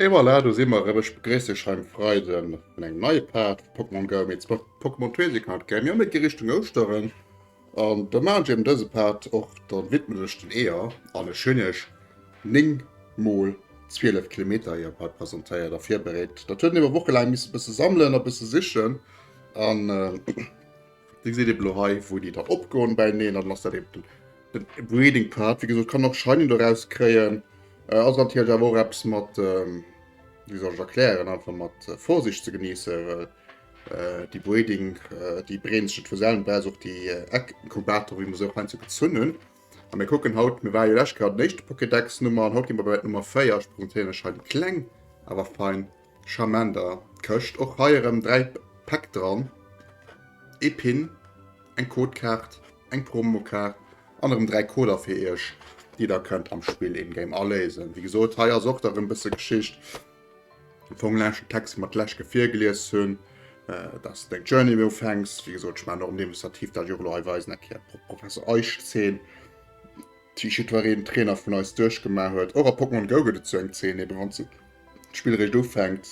Et voilà, do si mer erëm. Ech begréiss Iech hei um Freide vun engem neie Part vu Pokémon Go. Mee z'mëcht d'Pokémon Trading Card Game jo net gi Richtung Ouschteren. An da maachen ech eben dëse Part och, da widmen ech den Eeër. An ech hunn Iech 9 mol 12 Kilometer Eeër hei presentéiert a virbereet. Dat huet ebe wochelaang missen e bësse sammelen a bësse sichen an. Di gesäit eben lo hei wou déi dann opgoen bäineen an dann ass dat eben den den breeding part. Wéi gesot kann och shiny doraus kréien. Ass natierlech awer och eppes mat wéi soll ech erklären einfach mat Vorsicht ze genéisse well déi breeding déi breeden sech net vu selwen. Wär ass och déi Eck Inkubator wéi mer se och heiansdo gezunn hunn. A mir kucken haut mir ware jo lescht Kéier bei den éischte Pokédex Nummer an haut gi mer bei der Nummer 4. Ech presentéieren lech hei déi kleng awer fein Charmant a Këscht, och hei erëm 3 Päck dran, ee Pin, eng Codekaart, eng Promokaart an erëm 3 Coder fir iech, déi der kënnt am Spill in Game aléisen. Wéi gesot, hei ass och da rëm bësse Geschicht, am Fong laanscht den Text, wou mer d'Leschtke virgelies hunn, dass de deng Journey méi ufänks. Wéi gesot, ech maachen och en Demonstrativ, dat ech och elo hei weisen, eng Kéier pro Professor Eich 10. déi jiddwereen Trainer vun eis duerchgemaach huet. Och a Pokémon Go gëtt et sou eng Zeen eben, wann s de d'Spill eréischt ufänkt.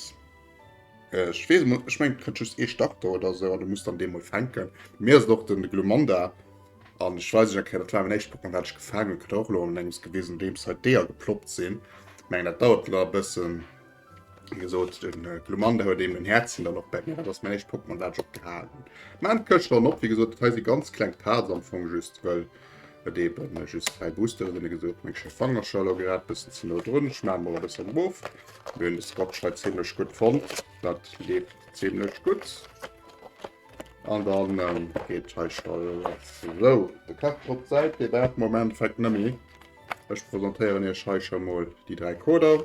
Ech weess emol, ech mengen et kënnt just ee Starter oder esou an du muss dann dee mol fänken. Bei mir ass et och den Glumanda an ech weis ech eng Kéier, dat war mäin éischt Pokémon wat ech gefaangen hunn, kënnt och elo an engems gewisen, nodeems hei d'Eeër geploppt sinn. Mengen dat dauert elo nach e bëssen. Wie gesot den äh, Glumanda huet eben den Häerzen dann och bei mir, dat ass mäin éischt Pokémon dat ech op gehalen. Mä et kënnt schon op, wie gesot dat hei si ganz kleng Parts am Fong just well et eben äh, just dräi Booster sinn, gesot meng Schäffangercher lo grad bëssen ze no drun, ech maachen mol e bëssen erof. Mir hunn de Scotchlight ziemlech gutt fonnt, dat lebt ziemlech gutt. An dann ähm, geet hei Stall so de Kach op d'Säit, dee dat Moment fänkt nëmme. Ech presentéieren Iech hei schon mol déi dräi Coder.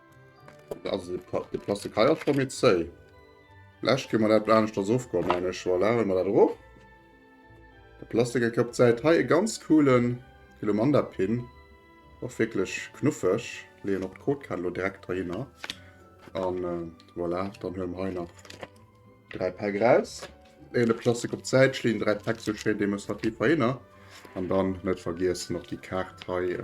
Also de Plastik hei ass schon méi zéi. Vläch kënne mer dat aneschters ofgoen, mengen ech. Voilà, huele mer dat erof. De Plastik e Kapp Zäit. Hei e ganz coolen Glumanda-Pin. Och wierklech knuffeg. Leeën och d'Codekarte elo direkt heihinner. An voilà, dann huele mer hei nach 3 Päck raus. 11 Plastik op d'Säit schleen, 3 Päck zu schwéier demonstrativ Haienner. An dann net vergiessen op déi Kaart hei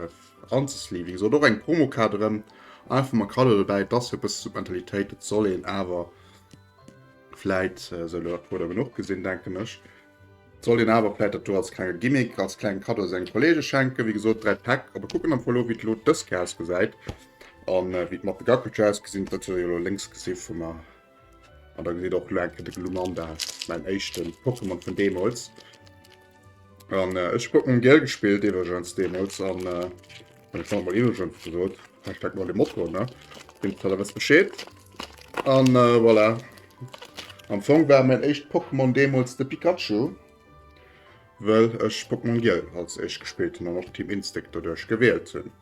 anzesleeven. Esou och eng Promokaart erëm. Einfach mal Kader dobäi, dass fir bësse zu Mentalitéit, et soll een awer fläit sou lo dat Puder genuch gesinn, denken ech. Soll een awer fläit dat do als klenge Gimmick, als kleng Kado senge Kollege schenken. Wéi gesot 3 Päck, op e kucken am Fong lo wéi lo dës Kéier ausgesäit. An wéi d'Mappe Gackelcher ausgesinn huet, huet der jo lo lénks gesi vu mer. An da geet och lo eng Kéier de Glumanda, mäin éischten Pokémon vun deemools. An äh, ech hab mam Gel gespillt, iwwergens deemools. An äh, an ech hat mal iwwergens gesot, Hashtag mal de Motto, ne? Dem Teller wëss Bescheed. An äh, voilà. Am Fong war mäin éischt Pokémon deemools de Pikachu, well ech Pokémon Gel als éischt gespillt hunn an och Team Instinct doduerch gewielt hunn.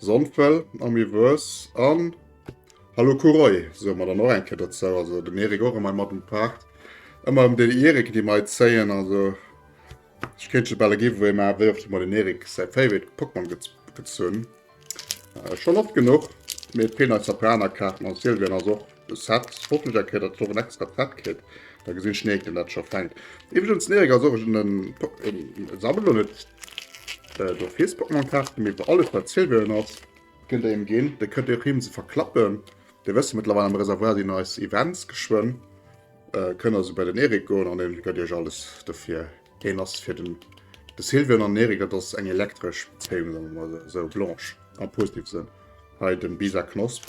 Sonnfell, Amiverse an Hallo Kuroi soe mer dann och eng Kéier dozou. Also den Erik och emmer mat um Part. Emmer em den Erik déi mei zéien. Also ech kéint jo bal e Giveaway maachen, wéi oft ech mei den Erik säi Favorite Pokémon gezunn. Schonn oft genuch, mee et feelen eis Japaner-Kaarten an Sylvian ass och De Set hoffen ech enke dat se och en extra Set kritt, da gesin ech neek den dat scho fenkt. Iwregens den Erik ass och en en sammelt lo net do fies Pokémon Kaarten, mee fir alles wat Silverion ass kënnt der him gin, de kënnt och him se verklappen. Dir wësst jo mëttlerweil am Reservoir sin eis Events geschwënn, kënnt also bei den Erik goen an en gëtt iech alles dofir. Deen ass fir den de Silverion an den Erik dat ass eng elektresch Bezéiung, soen mer mol esou, blanche am positive Sënn. Hei den Bisa Knosp.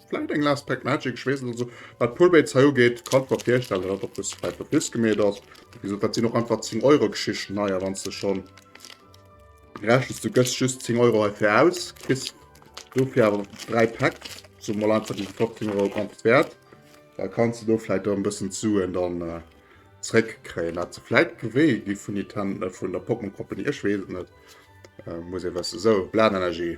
Vläit eng last pack magic, ech weess net. Also wat Pullbaits hei ugeet, kann ech mer virstellen, datt dat och bis vläit op bis gemeet ass. Wéi gesot, dat sinn och einfach 10 Euro Geschichten hei a wann s de schonn rechnes, du gëss just 10 Euro heifir aus, kriss dofir awer 3 Pack, soe mer mol einfach, déi si 15 Euro gratis wäert, da kanns de do vläit och e bëssen d'Suen dann zréckkréien. Dat se vläit gewéi gi vun Niten, vun der Pokémon Company, ech weess et net, muss ee wëssen. Sou, Blanenergie.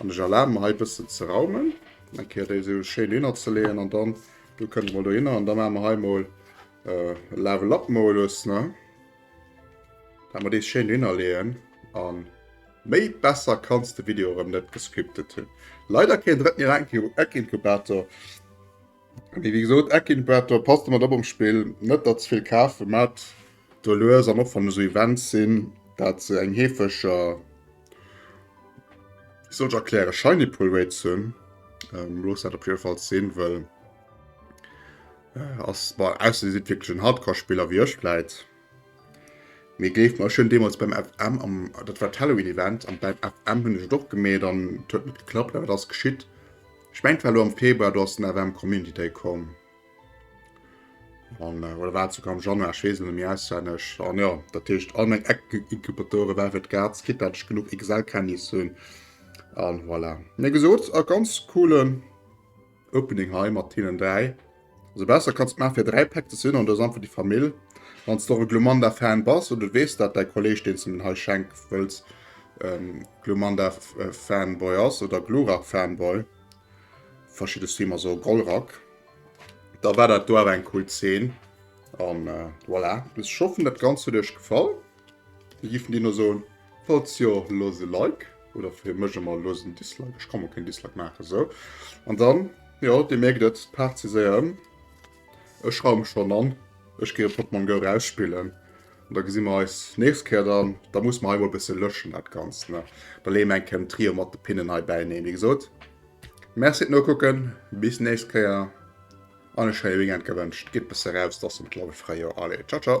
An ech erlaben mer hei e bëssen ze raumen, eng Kéier déi esou schéin dohinner ze leeën an dann do kënnt emol dohinner an da maache mer hei emol e Level Up Modus, ne, dat mer dees schéin dohinner leeën an méi besser kanns de Video erëm net gescriptet hunn. Leider keen drëtten Eckinkubator, mee wéi gesot Eckinkubator, passt ëmmer drop am Spill net der ze vill kafen, maacht do lues an och wann esou Events sinn, dat se eng heefeger. Ich soll erklären shiny pull rate zu hunn ähm, los dat op jeden Fall sinn well äh, ass bei aus si wirklich den Hardcore-Spieler wie ech läit. Mir géif mal schön deemals beim FM am dat war Halloween Event an beim FM hunn ech doch gemet an huet net geklappt, awer das geschitt. Ich mengt war lo am Februar do ass den FM Community Day komm. An, äh, oder war sogar am Januar, ich wees net méi auswendig. An ja, dat heescht all meng Eck-Incubatoren, war fir d'Graz, kit dat ech genug Excel-Kenntnis hunn. An voilà. Mir gesot, a ganz coolen Opening hei mat hinnen dräi. Also besser kannst du machen fir dräi Pack zu sinn, an das einfach die Famill. Wann du e Glumanda-Fan bass, oder du wees dat dei Kolleg, den du mir hei schenk wëlls, ähm, Glumanda-Fanboy ass, oder Glurak-Fanboy, verschidde Streamer so Golrak. Da war dat do awer eng cool Zeen. An äh, voilà. Bis schoffen dat ganz huet Iech gefall. Mir giffen Dir no soen, falls jo loos e Like oder fir mech emmer loos en Dislike. Ech kann mol keen Dislike maachen esou. An dann, jo Dir mierkt et, d'Paart si séier ëm. Ech schreiwe mech dann an, ech gehe Pokémon Go rausspillen. An da gesi mer eis nächst Kéier dann. Da muss mer hei mol e bësse lëschen dat Ganzt ne. Da leeë mer eng Kéier den Trio mat de Pinnen hei bäineen. Wéi gesot. Merci d'Nokucken, bis nächst Kéier an e schéie Weekend gewënscht. Gitt bësse raus, et ass jo mëttlerweil Fréijoer. Allez, ciao ciao!